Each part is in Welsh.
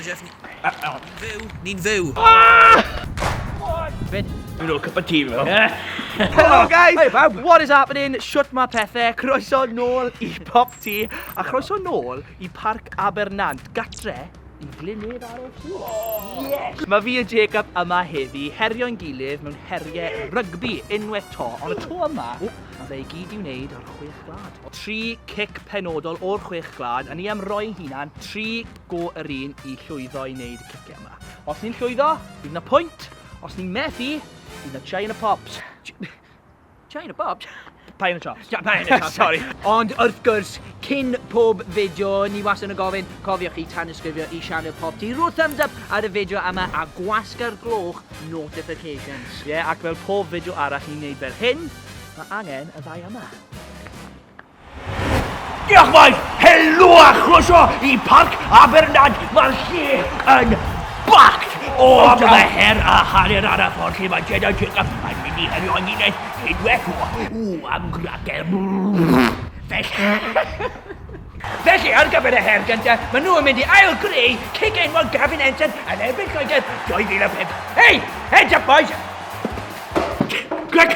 Jeff, ni... Ni'n fyw, ni'n fyw. Fyd. Dwi'n ôl cup of tea fel. Hello guys! Hey bawb! What is happening? Shwt mae pethau? Croeso nôl i Pop Tea a chroeso nôl i Parc Abernant, gatre i Glynnydd ar y Sŵ. Oh, yes! Mae fi a Jacob yma heddi, herio'n gilydd mewn heriau rygbi unwaith to, ond y to yma, mae fe i gyd i wneud o'r chwech glad. Tri cic penodol o'r chwech glad, a ni am roi hunan tri go yr un i llwyddo i wneud y ciciau yma. Os ni'n llwyddo, bydd na pwynt. Os ni'n methu, bydd na chai yn y pops. Chai yn y pops? Pai yn y chops. Pai yn y chops, sorry. Ond wrth gwrs, cyn pob fideo, ni was yn y gofyn, cofiwch chi tan ysgrifio i Sianel Pop Ti. Rwy'r thumbs up ar y fideo yma a gwasga'r gloch notifications. Ie, yeah, ac fel pob fideo arall ni'n neud fel hyn, mae angen y ddau yma. Diolch maes, helo a chroeso i Parc Abernad, mae'r lle yn bact o amla her a hanner ar y ffordd lle mae Jed a Jacob yn mynd i herio yn unwaith unwaith o o am grater. Felly, ar gyfer y her gyntaf, maen nhw yn mynd i ail greu cig enwog Gavin Ensign yn erbyn Lloegr 2005. Hei! Heads up, boys! Gwrc!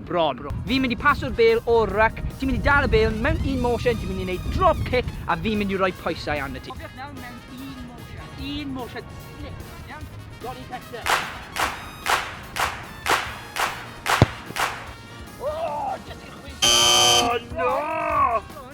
bron. Fi'n mynd i paso'r bêl o'r ruck, ti'n mynd i dal y bêl mewn un motion, ti'n mynd i wneud drop kick a fi'n mynd i roi pwysau arno ti. Cofiwch nawr mewn un motion, un motion, slip, iawn? Johnny Kester.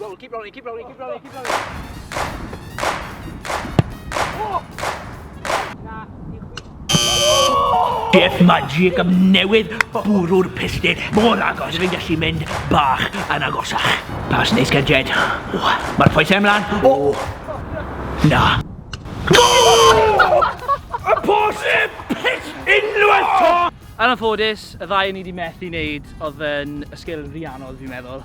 Rolling, keep rolling, keep rolling, keep rolling, keep rolling. Death Magic am newydd bwrw'r pistyn mor agos rwy'n gallu mynd bach yn agosach. Pas neis gael Jed. Mae'r pwysau ymlaen. O! Na. Y pos y pit unwaith to! Yn anffodus, y ddau ni wedi methu wneud oedd yn y sgil rhianol, fi'n meddwl.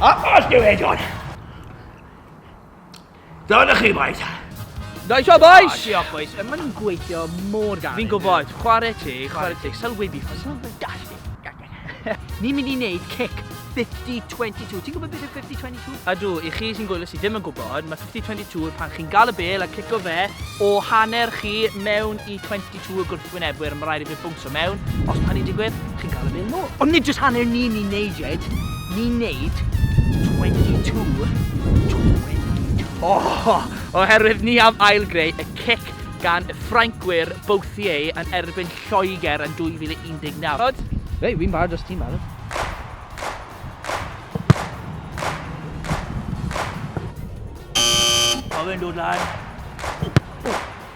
A os diw edon! Dyna chi, boys. Nice one, boys! Oh, diolch, boys. Mae nhw'n gweithio mor galed. Fi'n gwybod, chwarae ti, chwarae ti. Sylwebi, ffordd sy'n fantastic. Ni'n mynd i wneud cic 50-22. Ti'n gwybod beth yw 50-22? A dw, i chi sy'n gwylio sydd ddim yn gwybod, mae 50-22 pan chi'n gael y bel a cico fe o hanner chi mewn i 22. Two y gwrthwynebwyr, mae rhaid i fe bwnsio mewn. Os mae hynny'n digwydd, chi'n cael y bêl nôl. Ond nid jyst hanner ni'n ni'n neud, Jed. Ni'n neud 22, 22. O! Oherwydd ni am ail-greu y cic gan y Ffrancwyr Bouthier yn erbyn Lloegr yn 2019. Reit, fi'n barod os ti'n barod. Mae fe'n dod lan.